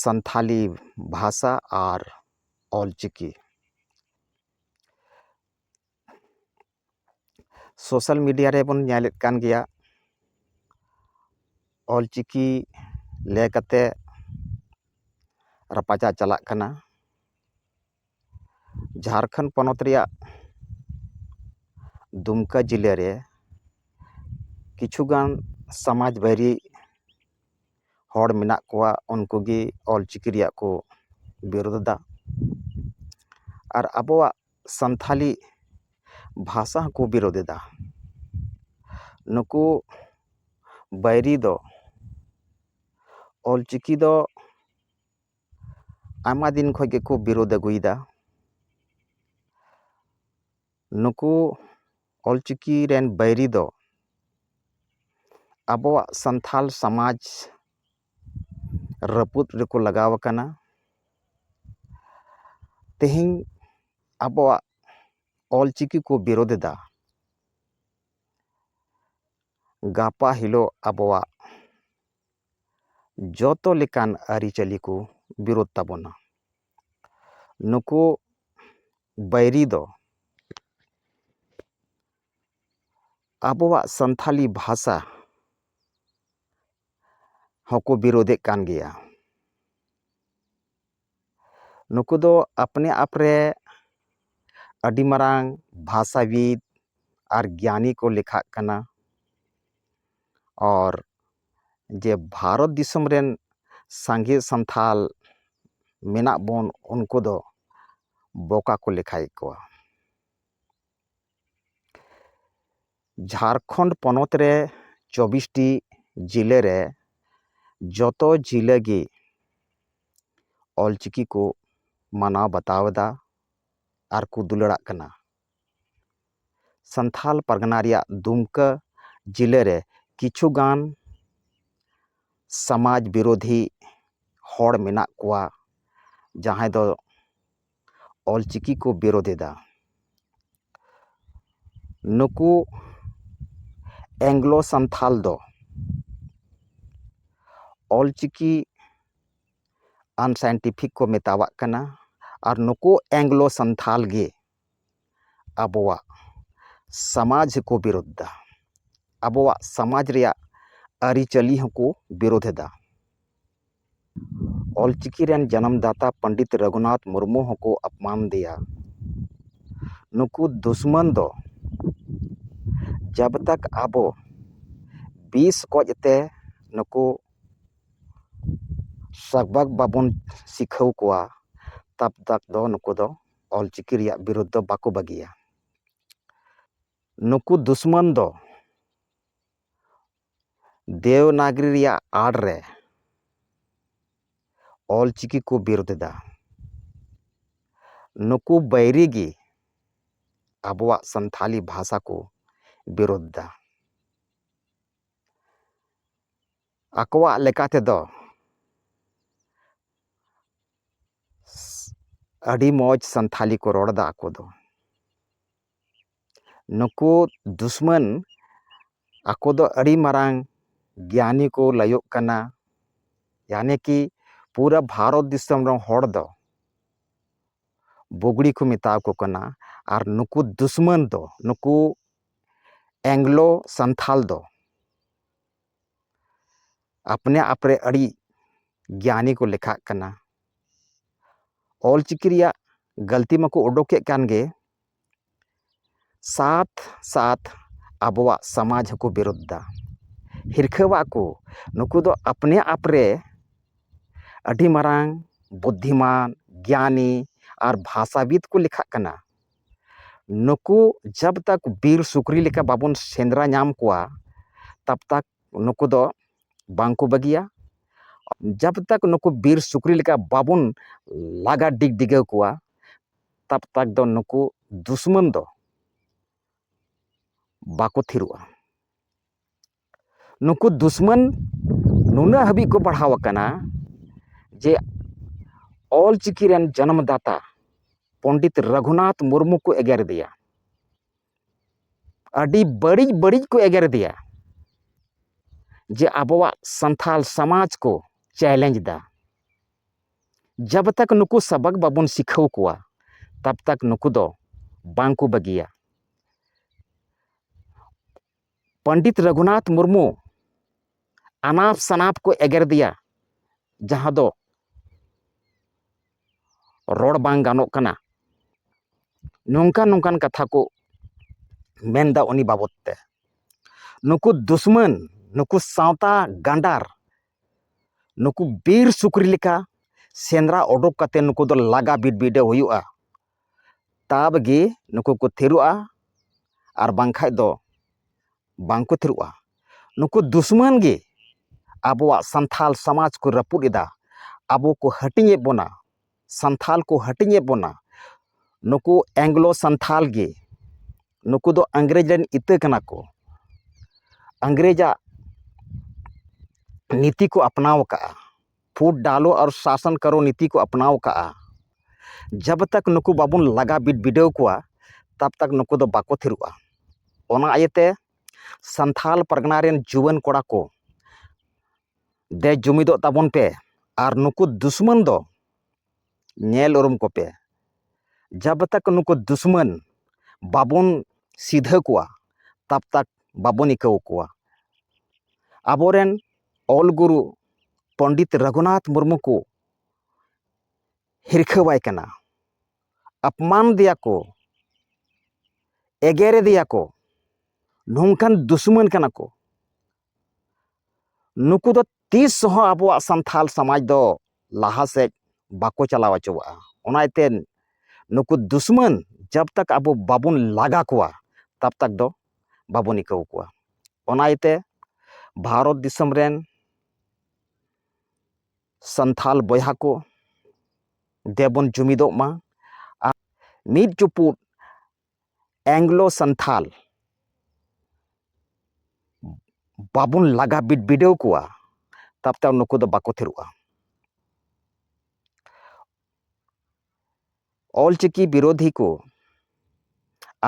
ᱥᱟᱱᱛᱷᱟᱞᱤ ᱵᱷᱟᱥᱟ ᱟᱨ Ol Chiki social media ᱨᱮᱵᱚᱱ ᱧᱮᱞᱮᱫ ᱠᱟᱱ ᱜᱮᱭᱟ ᱚᱞ ᱪᱤᱠᱤ ᱞᱮ ᱠᱟᱛᱮ ᱨᱟᱯᱟᱪᱟᱜ ᱪᱟᱞᱟᱜ ᱠᱟᱱᱟ ᱡᱷᱟᱲᱠᱷᱚᱸᱰ ᱯᱚᱱᱚᱛ ᱨᱮᱭᱟᱜ ᱫᱩᱢᱠᱟ ᱡᱮᱞᱟ ᱨᱮ ᱠᱤᱪᱷᱩ ᱜᱟᱱ ᱥᱚᱢᱟᱡᱽ ᱵᱟᱹᱨᱤ ᱦᱚᱲ ᱢᱮᱱᱟᱜ ᱠᱚᱣᱟ ᱩᱱᱠᱩ ᱜᱮ ᱚᱞ ᱪᱤᱠᱤ ᱨᱮᱭᱟᱜ ᱠᱚ ᱵᱤᱨᱳᱫᱷ ᱮᱫᱟ ᱟᱨ ᱟᱵᱚᱣᱟᱜ ᱥᱟᱱᱛᱷᱟᱞᱤ ᱵᱷᱟᱥᱟ ᱦᱚᱸᱠᱚ ᱵᱤᱨᱳᱫᱷ ᱮᱫᱟ ᱱᱩᱠᱩ ᱵᱟᱹᱭᱨᱤ ᱫᱚ ᱚᱞ ᱪᱤᱠᱤ ᱫᱚ ᱟᱭᱢᱟ ᱫᱤᱱ ᱠᱷᱚᱱ ᱜᱮᱠᱚ ᱵᱤᱨᱳᱫᱷ ᱟᱹᱜᱩᱭᱮᱫᱟ ᱱᱩᱠᱩ ᱚᱞᱪᱤᱠᱤ ᱨᱮᱱ ᱵᱟᱹᱭᱨᱤ ᱫᱚ ᱟᱵᱚᱣᱟᱜ ᱥᱟᱱᱛᱟᱲ ᱥᱚᱢᱟᱡᱽ ᱨᱟᱹᱯᱩᱫ ᱨᱮᱠᱚ ᱞᱟᱜᱟᱣ ᱟᱠᱟᱱᱟ ᱛᱮᱦᱮᱧ ᱟᱵᱚᱣᱟᱜ ᱚᱞᱪᱤᱠᱤ ᱠᱚ ᱵᱤᱨᱳᱫᱷ ᱮᱫᱟ ᱜᱟᱯᱟ ᱦᱤᱞᱳᱜ ᱟᱵᱚᱣᱟᱜ ᱡᱚᱛᱚ ᱞᱮᱠᱟᱱ ᱟᱹᱨᱤᱪᱟᱹᱞᱤ ᱠᱚ ᱵᱤᱨᱳᱫ ᱛᱟᱵᱚᱱᱟ ᱱᱩᱠᱩ ᱵᱟᱹᱭᱨᱤ ᱫᱚ ᱟᱵᱚᱣᱟᱜ ᱥᱟᱱᱛᱟᱲᱤ ᱵᱷᱟᱥᱟ ᱦᱚᱸᱠᱚ ᱵᱤᱨᱳᱫᱮᱜ ᱠᱟᱱ ᱜᱮᱭᱟ ᱱᱩᱠᱩ ᱫᱚ ᱟᱯᱱᱮ ᱟᱯ ᱨᱮ ᱟᱹᱰᱤ ᱢᱟᱨᱟᱝ ᱵᱷᱟᱥᱟᱵᱤᱫ ᱟᱨ ᱜᱮᱭᱟᱱᱤ ᱠᱚ ᱞᱮᱠᱷᱟᱜ ᱠᱟᱱᱟ ᱟᱨ ᱡᱮ ᱵᱷᱟᱨᱚᱛ ᱫᱤᱥᱚᱢ ᱨᱮᱱ ᱥᱟᱸᱜᱮ ᱥᱟᱱᱛᱷᱟᱞ ᱢᱮᱱᱟᱜ ᱵᱚᱱ ᱩᱱᱠᱩ ᱫᱚ ᱵᱚᱠᱟ ᱠᱚ ᱞᱮᱠᱷᱟᱭᱮᱫ ᱠᱚᱣᱟ ᱡᱷᱟᱨᱠᱷᱚᱸᱰ ᱯᱚᱱᱚᱛ ᱨᱮ ᱪᱚᱵᱽᱵᱤᱥᱴᱤ ᱡᱮᱞᱟᱹ ᱨᱮ ᱡᱚᱛᱚ ᱡᱮᱞᱟᱹ ᱜᱮ ᱚᱞ ᱪᱤᱠᱤ ᱠᱚ ᱢᱟᱱᱟᱣ ᱵᱟᱛᱟᱣ ᱮᱫᱟ ᱟᱨ ᱠᱚ ᱫᱩᱞᱟᱹᱲᱟᱜ ᱠᱟᱱᱟ ᱥᱟᱱᱛᱷᱟᱞ ᱯᱟᱨᱜᱟᱱᱟ ᱨᱮᱭᱟᱜ ᱫᱩᱢᱠᱟᱹ ᱡᱮᱞᱟᱹ ᱨᱮ ᱠᱤᱪᱷᱩ ᱜᱟᱱ ᱥᱟᱢᱟᱡᱽ ᱵᱤᱨᱳᱫᱷᱤ ᱦᱚᱲ ᱢᱮᱱᱟᱜ ᱠᱚᱣᱟ ᱡᱟᱦᱟᱸᱭ ᱫᱚ ᱚᱞ ᱪᱤᱠᱤ ᱠᱚ ᱵᱤᱨᱳᱫᱷ ᱮᱫᱟ ᱱᱩᱠᱩ ᱮᱝᱞᱳ ᱥᱟᱱᱛᱷᱟᱞ ᱫᱚ ᱚᱞ ᱪᱤᱠᱤ ᱟᱱᱥᱟᱭᱮᱱᱴᱤᱯᱷᱤᱠ ᱠᱚ ᱢᱮᱛᱟᱣᱟᱜ ᱠᱟᱱᱟ ᱟᱨ ᱱᱩᱠᱩ ᱮᱝᱞᱳ ᱥᱟᱱᱛᱷᱟᱞ ᱜᱮ ᱟᱵᱚᱣᱟᱜ ᱥᱟᱢᱟᱡᱽ ᱠᱚ ᱵᱤᱨᱳᱫᱷ ᱮᱫᱟ ᱟᱵᱚᱣᱟᱜ ᱥᱟᱢᱟᱡᱽ ᱨᱮᱭᱟᱜ ᱟᱹᱨᱤᱪᱟᱹᱞᱤ ᱦᱚᱸᱠᱚ ᱵᱤᱨᱳᱫᱷ ᱮᱫᱟ ᱚᱞ ᱪᱤᱠᱤ ᱨᱮᱱ ᱡᱟᱱᱟᱢ ᱫᱟᱛᱟ ᱯᱚᱱᱰᱤᱛ ᱨᱟᱹᱜᱷᱩᱱᱟᱛᱷ ᱢᱩᱨᱢᱩ ᱦᱚᱸᱠᱚ ᱟᱯᱱᱟᱨ ᱮᱫᱮᱭᱟ ᱱᱩᱠᱩ ᱫᱩᱥᱢᱚᱱ ᱫᱚ ᱡᱟᱵᱽ ᱛᱚᱠ ᱟᱵᱚ ᱵᱤᱥ ᱜᱚᱡ ᱛᱮ ᱱᱩᱠᱩ ᱥᱟᱵᱟᱫ ᱵᱟᱵᱚᱱ ᱥᱤᱠᱷᱟᱹᱣ ᱠᱚᱣᱟ ᱛᱟᱵᱽ ᱛᱚᱠ ᱫᱚ ᱱᱩᱠᱩ ᱫᱚ ᱚᱞ ᱪᱤᱠᱤ ᱨᱮᱭᱟᱜ ᱵᱤᱨᱩᱫᱽ ᱫᱚ ᱵᱟᱠᱚ ᱵᱟᱹᱜᱤᱭᱟ ᱱᱩᱠᱩ ᱫᱩᱥᱢᱚᱱ ᱫᱚ ᱫᱮᱣᱱᱟᱜᱽᱨᱤ ᱨᱮᱭᱟᱜ ᱟᱲ ᱨᱮ ᱚᱞ ᱪᱤᱠᱤ ᱠᱚ ᱵᱤᱨᱩᱫᱷ ᱮᱫᱟ ᱱᱩᱠᱩ ᱵᱟᱹᱭᱨᱤ ᱜᱮ ᱟᱵᱚᱣᱟᱜ ᱥᱟᱱᱛᱟᱲᱤ ᱵᱷᱟᱥᱟ ᱠᱚ ᱵᱤᱨᱩᱫᱷ ᱮᱫᱟ ᱟᱠᱚᱣᱟᱜ ᱞᱮᱠᱟ ᱛᱮᱫᱚ ᱟᱹᱰᱤ ᱢᱚᱡᱽ ᱥᱟᱱᱛᱟᱲᱤ ᱠᱚ ᱨᱚᱲ ᱮᱫᱟ ᱟᱠᱚ ᱫᱚ ᱱᱩᱠᱩ ᱫᱩᱥᱢᱟᱹᱱ ᱟᱠᱚ ᱫᱚ ᱟᱹᱰᱤ ᱢᱟᱨᱟᱝ ᱜᱮᱭᱟᱱᱤ ᱠᱚ ᱞᱟᱹᱭᱚᱜ ᱠᱟᱱᱟ ᱭᱟᱱᱤ ᱠᱤ ᱯᱩᱨᱟᱹ ᱵᱷᱟᱨᱚᱛ ᱫᱤᱥᱚᱢ ᱨᱮᱱ ᱦᱚᱲ ᱫᱚ ᱵᱩᱜᱽᱲᱤ ᱠᱚ ᱢᱮᱛᱟᱣᱟᱠᱚ ᱠᱟᱱᱟ ᱟᱨ ᱱᱩᱠᱩ ᱫᱩᱥᱢᱟᱹᱱ ᱫᱚ ᱱᱩᱠᱩ ᱮᱝᱞᱳ ᱥᱟᱱᱛᱷᱟᱞ ᱫᱚ ᱟᱯᱱᱮ ᱟᱯ ᱨᱮ ᱟᱹᱰᱤ ᱜᱮᱭᱟᱱᱤ ᱠᱚ ᱞᱮᱠᱷᱟᱜ ᱠᱟᱱᱟ ᱚᱞᱪᱤᱠᱤ ᱨᱮᱭᱟᱜ ᱜᱟᱹᱞᱛᱤ ᱢᱟᱠᱚ ᱩᱰᱩᱠᱮᱫ ᱠᱟᱱ ᱜᱮ ᱥᱟᱛ ᱥᱟᱛ ᱟᱵᱚᱣᱟᱜ ᱥᱚᱢᱟᱡᱽ ᱦᱚᱸᱠᱚ ᱵᱤᱨᱩᱫᱷ ᱮᱫᱟ ᱦᱤᱨᱠᱷᱟᱹᱣᱟᱜ ᱠᱚ ᱱᱩᱠᱩ ᱫᱚ ᱟᱯᱱᱮ ᱟᱯ ᱨᱮ ᱟᱹᱰᱤ ᱢᱟᱨᱟᱝ ᱵᱩᱫᱽᱫᱷᱤᱢᱟᱱ ᱜᱮᱭᱟᱱᱤ ᱟᱨ ᱵᱷᱟᱥᱟᱵᱤᱫ ᱠᱚ ᱞᱮᱠᱷᱟᱜ ᱠᱟᱱᱟ ᱱᱩᱠᱩ ᱡᱟᱵᱽ ᱛᱟᱠ ᱵᱤᱨ ᱥᱩᱠᱨᱤ ᱞᱮᱠᱟ ᱵᱟᱵᱚᱱ ᱥᱮᱸᱫᱽᱨᱟ ᱧᱟᱢ ᱠᱚᱣᱟ ᱛᱟᱵᱽ ᱛᱟᱠ ᱱᱩᱠᱩ ᱫᱚ ᱵᱟᱝ ᱠᱚ ᱵᱟᱹᱜᱤᱭᱟ ᱡᱟᱵᱽ ᱛᱟᱠ ᱱᱩᱠᱩ ᱵᱤᱨ ᱥᱩᱠᱨᱤ ᱞᱮᱠᱟ ᱵᱟᱵᱚᱱ ᱞᱟᱜᱟ ᱰᱤᱜᱽᱼᱰᱤᱜᱟᱹᱣ ᱠᱚᱣᱟ ᱛᱟᱠ ᱛᱟᱠ ᱫᱚ ᱱᱩᱠᱩ ᱫᱩᱥᱢᱟᱹᱱ ᱫᱚ ᱵᱟᱠᱚ ᱛᱷᱤᱨᱚᱜᱼᱟ ᱱᱩᱠᱩ ᱫᱩᱥᱢᱟᱹᱱ ᱱᱩᱱᱟᱹᱜ ᱦᱟᱹᱵᱤᱡ ᱠᱚ ᱵᱟᱲᱦᱟᱣ ᱟᱠᱟᱱᱟ ᱡᱮ ᱚᱞ ᱪᱤᱠᱤ ᱨᱮᱱ ᱡᱚᱱᱚᱢ ᱫᱟᱛᱟ ᱯᱚᱱᱰᱤᱛ ᱨᱟᱹᱜᱷᱩᱱᱟᱛᱷ ᱢᱩᱨᱢᱩ ᱠᱚ ᱮᱜᱮᱨ ᱮᱫᱮᱭᱟ ᱟᱹᱰᱤ ᱵᱟᱹᱲᱤᱡ ᱵᱟᱹᱲᱤᱡ ᱠᱚ ᱮᱜᱮᱨ ᱮᱫᱮᱭᱟ ᱡᱮ ᱟᱵᱚᱣᱟᱜ ᱥᱟᱱᱛᱷᱟᱞ ᱥᱚᱢᱟᱡᱽ ᱠᱚ ᱪᱮᱞᱮᱧᱡᱽ ᱮᱫᱟ ᱡᱟᱵᱽ ᱛᱟᱠ ᱱᱩᱠᱩ ᱥᱟᱵᱟᱠ ᱵᱟᱵᱚᱱ ᱥᱤᱠᱷᱟᱹᱣ ᱠᱚᱣᱟ ᱛᱟᱵᱽ ᱛᱟᱠ ᱱᱩᱠᱩ ᱫᱚ ᱵᱟᱝ ᱠᱚ ᱵᱟᱹᱜᱤᱭᱟ ᱯᱚᱱᱰᱤᱛ ᱨᱟᱹᱜᱷᱩᱱᱟᱛᱷ ᱢᱩᱨᱢᱩ ᱟᱱᱟᱯ ᱥᱟᱱᱟᱯ ᱠᱚ ᱮᱜᱮᱨ ᱫᱮᱭᱟ ᱡᱟᱦᱟᱸ ᱫᱚ ᱨᱚᱲ ᱵᱟᱝ ᱜᱟᱱᱚᱜ ᱠᱟᱱᱟ ᱱᱚᱝᱠᱟᱱ ᱱᱚᱝᱠᱟᱱ ᱠᱟᱛᱷᱟ ᱠᱚ ᱢᱮᱱᱫᱟ ᱩᱱᱤ ᱵᱟᱵᱚᱫ ᱛᱮ ᱱᱩᱠᱩ ᱫᱩᱥᱢᱟᱹᱱ ᱱᱩᱠᱩ ᱥᱟᱶᱛᱟ ᱜᱟᱸᱰᱟᱨ ᱱᱩᱠᱩ ᱵᱤᱨ ᱥᱩᱠᱨᱤ ᱞᱮᱠᱟ ᱥᱮᱸᱫᱽᱨᱟ ᱚᱰᱚᱠ ᱠᱟᱛᱮ ᱱᱩᱠᱩ ᱫᱚ ᱞᱟᱜᱟ ᱵᱤᱰᱵᱤᱰᱟᱹᱣ ᱦᱩᱭᱩᱜᱼᱟ ᱛᱟᱵᱽ ᱜᱮ ᱱᱩᱠᱩ ᱠᱚ ᱛᱷᱤᱨᱚᱜᱼᱟ ᱟᱨ ᱵᱟᱝᱠᱷᱟᱡ ᱫᱚ ᱵᱟᱝ ᱠᱚ ᱛᱷᱤᱨᱚᱜᱼᱟ ᱱᱩᱠᱩ ᱫᱩᱥᱢᱟᱱ ᱜᱮ ᱟᱵᱚᱣᱟᱜ ᱥᱟᱱᱛᱟᱲ ᱥᱚᱢᱟᱡᱽ ᱠᱚ ᱨᱟᱹᱯᱩᱫ ᱮᱫᱟ ᱟᱵᱚ ᱠᱚ ᱦᱟᱹᱴᱤᱧᱮᱫ ᱵᱚᱱᱟ ᱥᱟᱱᱛᱷᱟᱞ ᱠᱚ ᱦᱟᱹᱴᱤᱧᱮᱫ ᱵᱚᱱᱟ ᱱᱩᱠᱩ ᱮᱝᱞᱳ ᱥᱟᱱᱛᱷᱟᱞ ᱜᱮ ᱱᱩᱠᱩ ᱫᱚ ᱤᱝᱨᱮᱡᱽ ᱨᱮᱱ ᱤᱛᱟᱹ ᱠᱟᱱᱟ ᱠᱚ ᱤᱝᱨᱮᱡᱟᱜ ᱱᱤᱛᱤ ᱠᱚ ᱟᱯᱱᱟᱣ ᱟᱠᱟᱫᱼᱟ ᱯᱷᱩᱴ ᱰᱟᱞᱳ ᱟᱨ ᱥᱟᱥᱚᱱ ᱠᱟᱨᱳ ᱱᱤᱛᱤ ᱠᱚ ᱟᱯᱱᱟᱣ ᱟᱠᱟᱫᱼᱟ ᱡᱟᱵᱽ ᱛᱚᱠ ᱱᱩᱠᱩ ᱵᱟᱵᱚᱱ ᱞᱟᱜᱟ ᱵᱤᱰᱟᱹᱣ ᱠᱚᱣᱟ ᱛᱟᱵᱽ ᱛᱚᱠ ᱱᱩᱠᱩ ᱫᱚ ᱵᱟᱠᱚ ᱛᱷᱤᱨᱚᱜᱼᱟ ᱚᱱᱟ ᱤᱭᱟᱹᱛᱮ ᱥᱟᱱᱛᱷᱟᱞ ᱯᱟᱨᱜᱟᱱᱟ ᱨᱮᱱ ᱡᱩᱣᱟᱹᱱ ᱠᱚᱲᱟ ᱠᱚ ᱫᱮ ᱡᱩᱢᱤᱫᱚᱜ ᱛᱟᱵᱚᱱ ᱯᱮ ᱟᱨ ᱱᱩᱠᱩ ᱫᱩᱥᱢᱟᱹᱱ ᱫᱚ ᱧᱮᱞ ᱩᱨᱩᱢ ᱠᱚᱯᱮ ᱡᱟᱵᱽ ᱛᱟᱠ ᱱᱩᱠᱩ ᱫᱩᱥᱢᱟᱹᱱ ᱵᱟᱵᱚᱱ ᱥᱤᱫᱷᱟᱹ ᱠᱚᱣᱟ ᱛᱟᱵᱽ ᱛᱟᱠ ᱵᱟᱵᱚᱱ ᱤᱠᱟᱹᱣ ᱠᱚᱣᱟ ᱟᱵᱚᱨᱮᱱ ᱚᱞ ᱜᱩᱨᱩ ᱯᱚᱱᱰᱤᱛ ᱨᱟᱹᱜᱷᱩᱱᱟᱛᱷ ᱢᱩᱨᱢᱩ ᱠᱚ ᱦᱤᱨᱠᱷᱟᱹᱣᱟᱭ ᱠᱟᱱᱟ ᱟᱯᱢᱟᱱ ᱫᱮᱭᱟ ᱠᱚ ᱮᱜᱮᱨᱮᱫᱮᱭᱟ ᱠᱚ ᱱᱚᱝᱠᱟᱱ ᱫᱩᱥᱢᱟᱹᱱ ᱠᱟᱱᱟ ᱠᱚ ᱱᱩᱠᱩ ᱫᱚ ᱛᱤᱥ ᱦᱚᱸ ᱟᱵᱚᱣᱟᱜ ᱥᱟᱱᱛᱷᱟᱞ ᱥᱚᱢᱟᱡᱽ ᱫᱚ ᱞᱟᱦᱟ ᱥᱮᱫ ᱵᱟᱠᱚ ᱪᱟᱞᱟᱣ ᱦᱚᱪᱚᱣᱟᱜᱼᱟ ᱚᱱᱟ ᱤᱭᱟᱹᱛᱮ ᱱᱩᱠᱩ ᱫᱩᱥᱢᱟᱱ ᱡᱟᱵ ᱛᱟᱠ ᱟᱵᱚ ᱵᱟᱵᱚᱱ ᱞᱟᱜᱟ ᱠᱚᱣᱟ ᱛᱟᱵ ᱛᱟᱠ ᱫᱚ ᱵᱟᱵᱚᱱ ᱤᱠᱟᱹᱣ ᱠᱚᱣᱟ ᱚᱱᱟ ᱤᱭᱟᱹᱛᱮ ᱵᱷᱟᱨᱚᱛ ᱫᱤᱥᱚᱢ ᱨᱮᱱ ᱥᱟᱱᱛᱷᱟᱞ ᱵᱚᱭᱦᱟ ᱠᱚ ᱫᱮᱵᱚᱱ ᱡᱩᱢᱤᱫᱚᱜ ᱢᱟ ᱟᱨ ᱢᱤᱫ ᱪᱩᱯᱩᱫ ᱮᱝᱞᱳ ᱥᱟᱱᱛᱷᱟᱞ ᱵᱟᱵᱚᱱ ᱞᱟᱜᱟ ᱵᱤᱰᱟᱹᱣ ᱠᱚᱣᱟ ᱛᱟᱵᱛᱮ ᱱᱩᱠᱩ ᱫᱚ ᱵᱟᱠᱚ ᱛᱷᱤᱨᱚᱜᱼᱟ ᱚᱞᱪᱤᱠᱤ ᱵᱤᱨᱳᱫᱷᱤ ᱠᱚ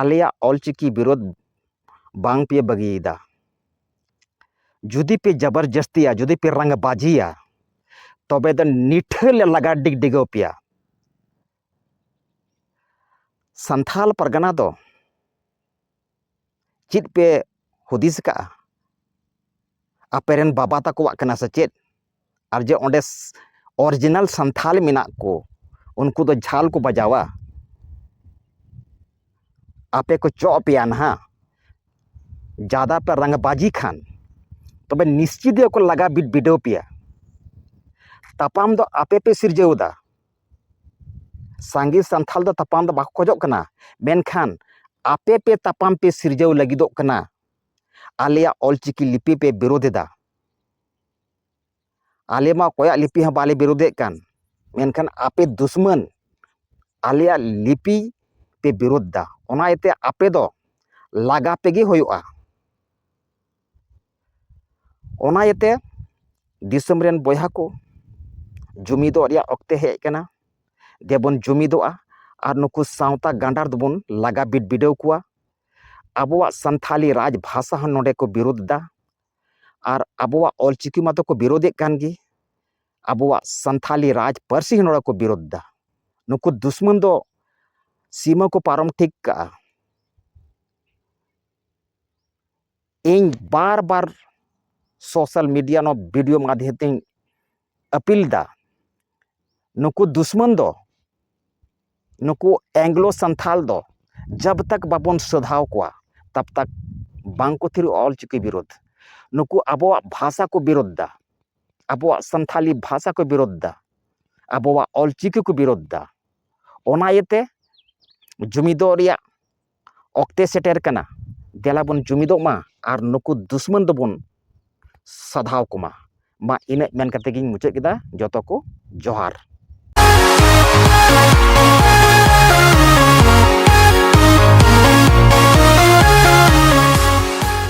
ᱟᱞᱮᱭᱟᱜ ᱚᱞᱪᱤᱠᱤ ᱵᱤᱨᱳᱫᱷ ᱵᱟᱝ ᱯᱮ ᱵᱟᱹᱜᱤᱭᱮᱫᱟ ᱡᱩᱫᱤ ᱯᱮ ᱡᱟᱵᱟᱨᱡᱟᱹᱥᱛᱤᱭᱟ ᱡᱩᱫᱤ ᱯᱮ ᱨᱟᱝᱵᱟᱡᱤᱭᱟ ᱛᱚᱵᱮ ᱫᱚ ᱱᱤᱴᱷᱟᱹ ᱞᱮ ᱞᱟᱜᱟ ᱰᱤᱜᱽ ᱰᱤᱜᱟᱹᱣ ᱯᱮᱭᱟ ᱥᱟᱱᱛᱟᱲ ᱯᱟᱨᱜᱟᱱᱟ ᱫᱚ ᱪᱮᱫ ᱯᱮ ᱦᱩᱫᱤᱥ ᱠᱟᱜᱼᱟ ᱟᱯᱮ ᱨᱮᱱ ᱵᱟᱵᱟ ᱛᱟᱠᱚᱣᱟᱜ ᱠᱟᱱᱟ ᱥᱮ ᱪᱮᱫ ᱟᱨ ᱡᱮ ᱚᱸᱰᱮ ᱚᱨᱤᱡᱤᱱᱟᱞ ᱥᱟᱱᱛᱟᱲ ᱢᱮᱱᱟᱜ ᱠᱚ ᱩᱱᱠᱩ ᱫᱚ ᱡᱷᱟᱞ ᱠᱚ ᱵᱟᱡᱟᱣᱟ ᱟᱯᱮ ᱠᱚ ᱪᱚᱜ ᱟᱯᱮᱭᱟ ᱱᱟᱦᱟᱜ ᱡᱟᱫᱟ ᱯᱮ ᱨᱟᱝᱵᱟᱡᱤ ᱠᱷᱟᱱ ᱛᱚᱵᱮ ᱱᱤᱥᱪᱤᱛ ᱜᱮᱠᱚ ᱞᱟᱜᱟ ᱵᱤᱰᱟᱹᱣ ᱯᱮᱭᱟ ᱛᱟᱯᱟᱢ ᱫᱚ ᱟᱯᱮ ᱯᱮ ᱥᱤᱨᱡᱟᱹᱣᱫᱟ ᱥᱟᱸᱜᱮ ᱥᱟᱱᱛᱟᱲ ᱫᱚ ᱛᱟᱯᱟᱢ ᱫᱚ ᱵᱟᱠᱚ ᱠᱷᱚᱡᱚᱜ ᱠᱟᱱᱟ ᱢᱮᱱᱠᱷᱟᱱ ᱟᱯᱮ ᱯᱮ ᱛᱟᱯᱟᱢ ᱯᱮ ᱥᱤᱨᱡᱟᱹᱣ ᱞᱟᱹᱜᱤᱫᱚᱜ ᱠᱟᱱᱟ ᱟᱞᱮᱭᱟᱜ ᱚᱞ ᱪᱤᱠᱤ ᱞᱤᱯᱤ ᱯᱮ ᱵᱤᱨᱳᱫᱷ ᱮᱫᱟ ᱟᱞᱮ ᱢᱟ ᱚᱠᱚᱭᱟᱜ ᱞᱤᱯᱤ ᱦᱚᱸ ᱵᱟᱞᱮ ᱵᱤᱨᱳᱫᱷᱮᱫ ᱠᱟᱱ ᱢᱮᱱᱠᱷᱟᱱ ᱟᱯᱮ ᱫᱩᱥᱢᱟᱹᱱ ᱟᱞᱮᱭᱟᱜ ᱞᱤᱯᱤ ᱯᱮ ᱵᱤᱨᱳᱫᱷ ᱮᱫᱟ ᱚᱱᱟ ᱤᱭᱟᱹᱛᱮ ᱟᱯᱮ ᱫᱚ ᱞᱟᱜᱟ ᱯᱮᱜᱮ ᱦᱩᱭᱩᱜᱼᱟ ᱚᱱᱟ ᱤᱭᱟᱹᱛᱮ ᱫᱤᱥᱚᱢ ᱨᱮᱱ ᱵᱚᱭᱦᱟ ᱠᱚ ᱡᱩᱢᱤᱫᱚᱜ ᱨᱮᱭᱟᱜ ᱚᱠᱛᱮ ᱦᱮᱡ ᱟᱠᱟᱱᱟ ᱫᱮᱵᱚᱱ ᱡᱩᱢᱤᱫᱚᱜᱼᱟ ᱟᱨ ᱱᱩᱠᱩ ᱥᱟᱶᱛᱟ ᱜᱟᱸᱰᱟᱨ ᱫᱚᱵᱚᱱ ᱞᱟᱜᱟ ᱵᱤᱰᱼᱵᱤᱰᱟᱹᱣ ᱠᱚᱣᱟ ᱟᱵᱚᱣᱟᱜ ᱥᱟᱱᱛᱷᱟᱞᱤ ᱨᱟᱡᱽ ᱵᱷᱟᱥᱟ ᱦᱚᱸ ᱱᱚᱸᱰᱮ ᱠᱚ ᱵᱤᱨᱩᱫᱷ ᱮᱫᱟ ᱟᱨ ᱟᱵᱚᱣᱟᱜ ᱚᱞ ᱪᱤᱠᱤ ᱢᱟᱛᱚ ᱠᱚ ᱵᱤᱨᱩᱫᱷ ᱮᱫ ᱠᱟᱱ ᱜᱮ ᱟᱵᱚᱣᱟᱜ ᱥᱟᱱᱛᱷᱟᱞᱤ ᱨᱟᱡᱽ ᱯᱟᱹᱨᱥᱤ ᱦᱚᱸ ᱱᱚᱸᱰᱮ ᱠᱚ ᱵᱤᱨᱩᱫᱷ ᱮᱫᱟ ᱱᱩᱠᱩ ᱫᱩᱥᱢᱚᱱ ᱫᱚ ᱥᱤᱢᱟᱹ ᱠᱚ ᱯᱟᱨᱚᱢ ᱴᱷᱤᱠ ᱠᱟᱜᱼᱟ ᱤᱧ ᱵᱟᱨ ᱵᱟᱨ ᱥᱳᱥᱟᱞ ᱢᱤᱰᱤᱭᱟ ᱱᱚᱣᱟ ᱵᱷᱤᱰᱤᱭᱳ ᱢᱟᱫᱷᱭᱚᱢ ᱛᱮᱧ ᱟᱹᱯᱤᱞ ᱮᱫᱟ ᱱᱩᱠᱩ ᱫᱩᱥᱢᱚᱱ ᱫᱚ ᱱᱩᱠᱩ ᱮᱝᱞᱳ ᱥᱟᱱᱛᱷᱟᱞ ᱫᱚ ᱡᱟᱵᱽ ᱛᱟᱠ ᱵᱟᱵᱚᱱ ᱥᱚᱫᱷᱟᱣ ᱠᱚᱣᱟ ᱛᱟᱵᱽ ᱛᱟᱠ ᱵᱟᱝ ᱠᱚ ᱛᱷᱤᱨᱚᱜᱼᱟ ᱚᱞ ᱪᱤᱠᱤ ᱵᱤᱨᱩᱫᱽ ᱱᱩᱠᱩ ᱟᱵᱚᱣᱟᱜ ᱵᱷᱟᱥᱟ ᱠᱚ ᱵᱤᱨᱩᱫᱽ ᱮᱫᱟ ᱟᱵᱚᱣᱟᱜ ᱥᱟᱱᱛᱷᱟᱞᱤ ᱵᱷᱟᱥᱟ ᱠᱚ ᱵᱤᱨᱩᱫᱽ ᱮᱫᱟ ᱟᱵᱚᱣᱟᱜ ᱚᱞ ᱪᱤᱠᱤ ᱠᱚ ᱵᱤᱨᱩᱫᱽ ᱮᱫᱟ ᱚᱱᱟ ᱤᱭᱟᱹᱛᱮ ᱡᱩᱢᱤᱫᱚᱜ ᱨᱮᱭᱟᱜ ᱚᱠᱛᱮ ᱥᱮᱴᱮᱨ ᱠᱟᱱᱟ ᱫᱮᱞᱟ ᱵᱚᱱ ᱡᱩᱢᱤᱫᱚᱜ ᱢᱟ ᱟᱨ ᱱᱩᱠᱩ ᱫᱩᱥᱢᱚᱱ ᱫᱚᱵᱚᱱ ᱥᱟᱫᱷᱟᱣ ᱠᱚᱢᱟ ᱢᱟ ᱤᱱᱟᱹᱜ ᱢᱮᱱ ᱠᱟᱛᱮᱫ ᱜᱤᱧ ᱢᱩᱪᱟᱹᱫ ᱠᱮᱫᱟ ᱡᱚᱛᱚ ᱠᱚ ᱡᱚᱦᱟᱨ